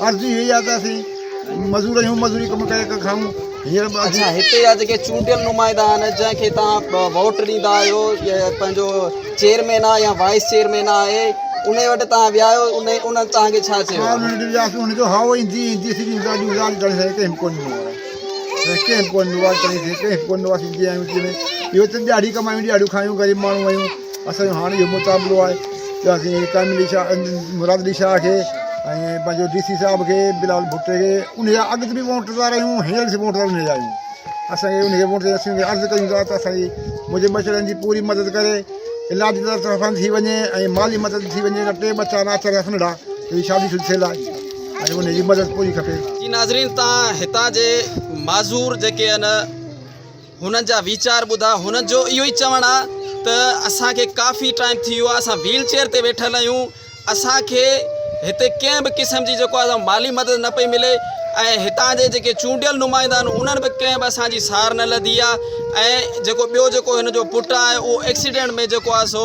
عرض ئي اهي آهي ته اسين مزور آهيون مزوري ڪم ڪري ڪري کائون هينئر به اچا هتي جا جيڪي چونڊيل نمائندا آهن جنهن کي توهان ووٽ ڏيندا آهيو يا پنهنجو چيئرمين آهي يا وائيس چيئرمين آهي ان وٽ توهان ويا آهيو ان انهن توهان کي ڇا چيو آهي انهن ڏي وياسون انهن جو هاء ايندي ايندي سڄي ڳالهيون ڳالهه ڳالهه سان ڪنهن ڪو نه آهي ڪنهن ڪو نه آهي ڪنهن ڪو نه آهي سيدي آهيون سيدي اهو ته ڏيهاڙي ڪمايون ڏيهاڙيون کايون غريب ماڻهو آهيون اسان جو هاڻ اهو مطالبو آهي ته اسين قائم علي شاهه مراد علي شاهه کي ۽ پنهنجو ڊي سي صاحب کي بلال ڀٽي کي ان جا اڳ تي به ووٽدار آهيون هينئر به ووٽدار ان جا آهيون اسان کي ان کي ووٽ اسان کي عرض ڪيون ٿا ته اسانجي منهنجي ٻچڙن جي پوري مدد ڪري علاج جي طرفان ٿي وڃي ۽ مالي مدد ٿي وڃي ٽي ٻچا ناچ رس ننڍا هي شادي شدي ٿيل آهي ۽ ان جي مدد پوري کپي جي ناظرين تان هتان جي معذور جيڪي آهن هنن جا ويچار ٻڌا. هنن جو اهو ئي چوڻ آ ته اسان کي ڪافي ٽائيم ٿي ويو آ اسان ويل چيئر تي ويٺل آهيون اسان کي هتي ڪنهن به قسم جي جيڪو آ مالي مدد نه پئي ملي ۽ هتان جي جيڪي چونڊيل نمائندا آهن انهن به ڪنهن به اسان جي سار نه لڌي آ ۽ جيڪو ٻيو جيڪو هن جو پٽ آ اهو ايڪسيڊنٽ ۾ جيڪو آ سو